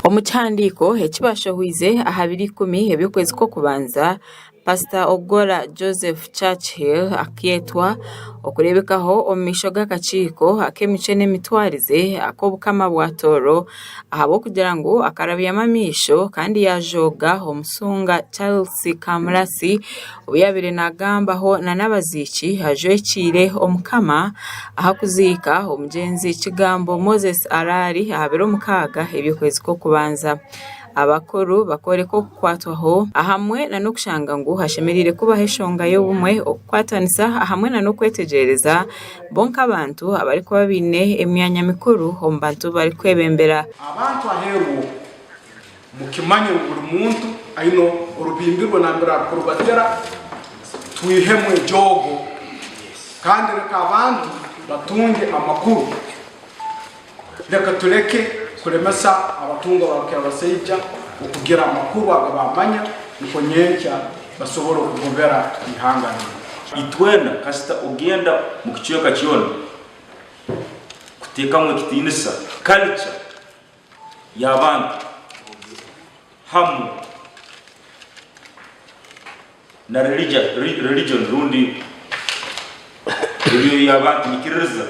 Omu kihandiiko eki baashohoize aha biro ikumi eby'okwezi kw'okubanza, Pasita Ogolla Joseph Churchill akeetwa okureebekaho omu maisho g'akakiiko ak'emicwe n'emitwarize ak'Obukama bwa Tooro, ahabw'okugira ngu akarabyamu amaisho kandi yaajooga omushunga Charles Kamurasi ou yaabaire naagambaho nana abaziiki ajwekiire Omukama ahakuziika omugyenzi Kigambo Moses Arari aha biro mukaaga eby'okwezi kw'okubanza. abakuru bakooreka okukwatwaho ahamwe n'okushanga ngu hashemereire kubaho eshonga y'obumwe, okukwatanisa ahamwe n'okwetegyereza bo nk'abantu abarikuba baine emyanya mikuru omu bantu abu barikwebembera. Abantu aheeru obu, mukimanye ngu buri muntu aine orubimbi rwe nambere arikurubatera, twihemu ejoogo kandi reka abantu batunge amakuru. Reka tureke kuremesa abatungwa ba rukirabasaija okugira amakuru aga baamanya nukwo nyenkya basobole okugobera eihanga rinu. Itwena, kasita ogenda mu kicweka kyona kuteekamu ekitiinisa kalica y'abantu hamwe na religoni rundi ebyo y'abantu baikiririza.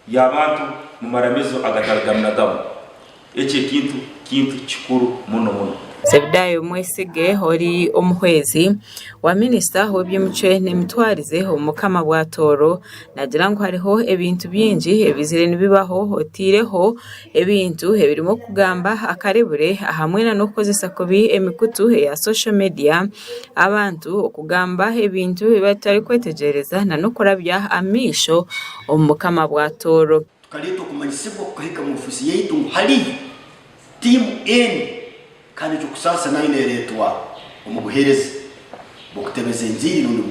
Y'abantu mu maramizo agatari gamu na gamu. Eki ekintu kintu kikuru muno muno. Zebedaayo omwesige ori omuhwezi wa minisita w'eby'emicwe n'emitwarize omu Mukama bwa Tooro naagira ngu hariho ebintu bingi ebizire nibibaho oteireho Ebintu ebirimu okugamba akarebure ahamwe n'okukozesa kubi emikutu eya social media, abantu okugamba ebintu ebi batarikwetegyereza n'okurabya amaisho omu bukama bwa Tooro. Tukareeta okumanyisibwa kukahika mu ofiisi yaitu ngu hariyo tiimu N kandi ekyo kusaasa nayo neereetwa omu buheereza bw'okutebeza enjiri rundi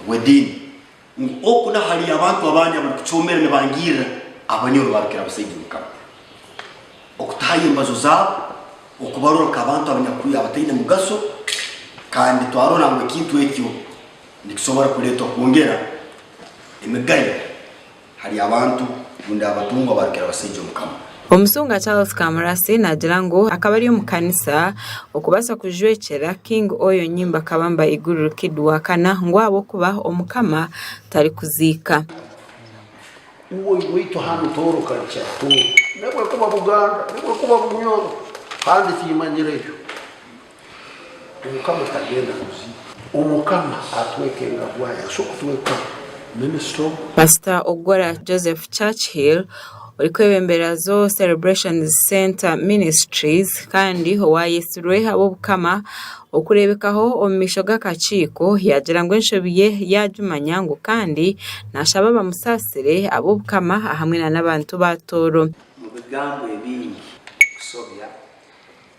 bw'ediini. Ngu oku n'ahari abantu abandi abarikucoomera nibangirira abanyoro baabikira abashaija omu kama, okutahayo embazo zaabo, okubarora nk'abantu abanyakuri abataine mugasho, kandi twarora ngu ekintu ekyo nikisobora kureetwa kwongera emigayo ahari abantu rundi abatungwa baabikira abashaija omu kama. Omushumba Charles Kamurasi naagira ngu akaba ari omu kanisa okubaasa kujwekyera King Oyo Nyimba Kabamba Iguru Kid wa kana ngu ahabw'okuba Omukama tarikuziika. Omukama tagenda kuziita. Omukama atweka engabwa ye. Aso kutweka minister ogu. Pasita Ogora Joseph Churchill orikwebembera Zoe Celebrations Centre Ministries kandi owaayetsirwe ab'Obukama okureebekaho omu maisho g'akakiiko yaagira ngu enshobi ye yaagimanya ngu kandi naashaba bamusaasire ab'Obukama ahamwe n'abantu ba Tooro. Mu bigambo ebingi kusobya.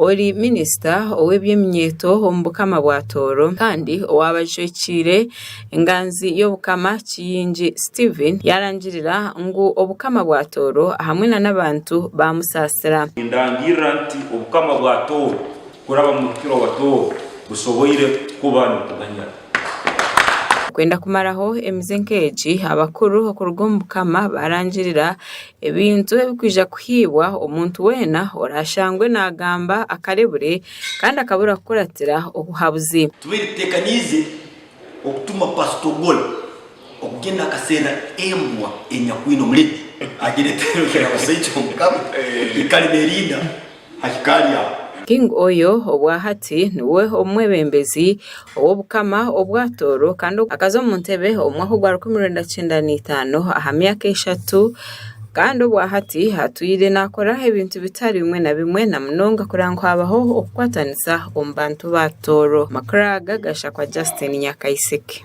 Ori minisita ow'eby'eminyeeto omu Bukama bwa Tooro kandi owaabajwekiire enganzi y'Obukama Kiyingi Stephen yaarangirira ngu Obukama bwa Tooro hamwe na n'abantu baamusaasira. Nindangirira nti Obukama bwa Tooro kuraba Mubikira wa Tooro busoboire kuba nikuganyira. Kwenda kumaraho emize nk'egi, abakuru okuruga omu Bukama baarangirira Ebintu ebikwija kuhiibwa omuntu weena oraashangwe naagamba akarebure kandi akabura kukuratira obuhabuzi. Tubaire tuteekaniize okutuma Pasita Ogola okugyenda akaseerera embwa enyakwine omureti, agireetere Ruhwera Busaija omu ka, ikare neerinda ha hika ryawe. King Oyo obwa hati niwe omwebembezi ow'obukama obwa Tooro kandi akaza omu ntebe omu mwaka ogwa rukumi rwenda kyenda na itaano aha myaka eshatu kandi obwa hati atwire nakora ebintu bitari bimwe na bimwe na munonga kureba ngu habaho okukwatanisa omu bantu ba Tooro. Amakuru aga gashakwa Justine Nyakaisiki.